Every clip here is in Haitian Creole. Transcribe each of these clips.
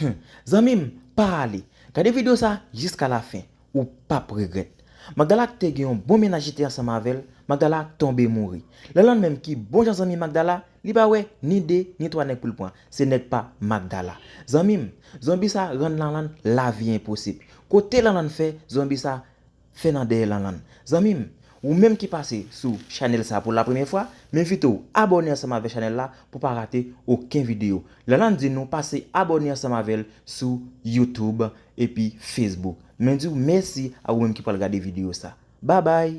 Humm zanmim pa ale Gade video sa jiska la fin ou pap regret Magdala ak te gen yon bon mennaj li te ansanm avel Magdala tonbe mouri Lanland menm ki bon jan zanmi Magdala li pa wè ni 2 ni 3 nèg poul pran se nèg pa Magdala zanmim zonbi sa rann Lanland lavi enposib kote Lanland fè zonbi sa Fè nan dèyè lanlann. Zanmi m, ou menm ki pase sou chanèl sa pou la premyè fwa, m envite w abòne ansanm avè chanèl la pou pa rate oken videyo. Lanlann di nou pase abòne ansanm avè l sou YouTube epi Facebook. Mwen di w mèsi a ou menm ki pral gade videyo sa. Babay!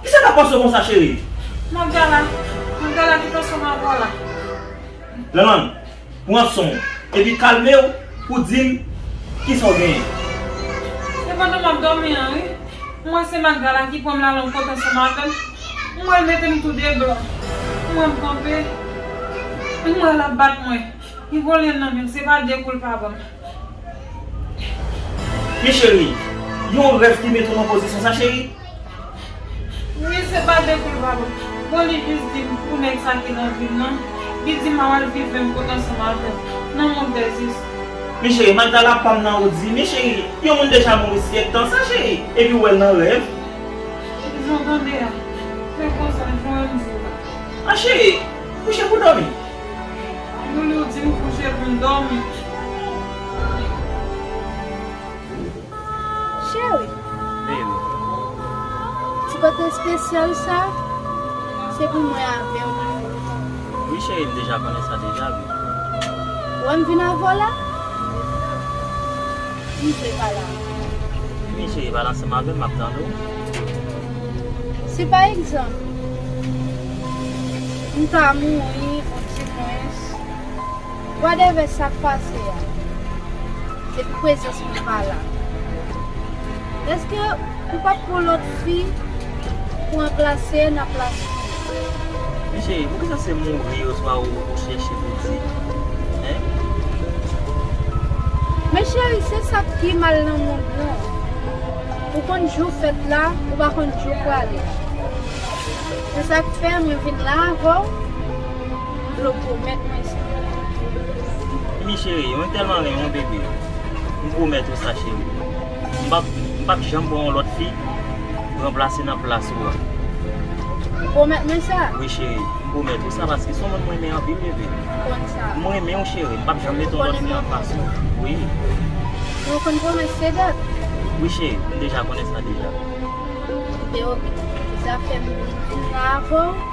Kisa kap pase w konsa cheri? Magala, Magala ki pase w Magala? Lanlann, pran son w epi kalme w pou w di m kisa w genyen. Se pandan map dòmi an wi, m wè se Magala ki pran m Lanlann pran ton son m avè l, m wè l mete m tou de blan, m wè m kanpe, m wè lap bat mwen, li pran lyen nan men m se pa de kou l pa ban m. Men cheri, yon rèv ki mete w nan pozisyon sa cheri? Wi se pa depi wap Bon li jus dim pou nèg sa ki nan vim nan Li dim a wal viv menm kote ansanm avèm Nan mond des esprits. Men chéri Magdala pam nan ou di men chéri yon moun deja mouri syèk tan sa chéri epi ou wèl nan rèv. Jan w tande a Se konsa jan w wè m di w la. A chéri kouche pou dòmi. Loulou di m kouche pou m dòmi. Cheri. Vil. Ti kote spesyal sa se pou mwen avèw li ye. Wi cheri m deja konnen sa deja wi. Wèm vin avèw la? M vle pale avèw. Vini cheri pale ansanm avèm map tande w. Si pa egzanp m ta mouri ou di mwens. Wadèvè sak pase a depi prezans mwen pa la eske ou pap pran lòt fi pou anplase nan plas mwen. Men cheri poukisa se mouri oswa ou chèche pou di hein. Men cheri se sak pi mal nan mond lan ou konn jou fèt la ou pa konn jou prale se sak fè mwen vin la avèw. Dlo pwomèt mwen sa. Wi cheri, mwen tèlman renmenw bebe. M pwomèt ou sa cheri. M pap, m pap janm pran yon lòt fi pou ranplase nan plas ou an. Ou pwomèt mwen sa? Wi cheri, m pwomèt ou sa paske son moun m renmen anpil bebe. Ou konn sa. M renmenw cheri, m pap janm mete yon lòt fi anfas ou. Ou konnen m renmenw. Wi. Men ou konn pwomès se dat? Wi cheri, m deja konnen sa deja. Kite ok. Sa fèm vin la avèw.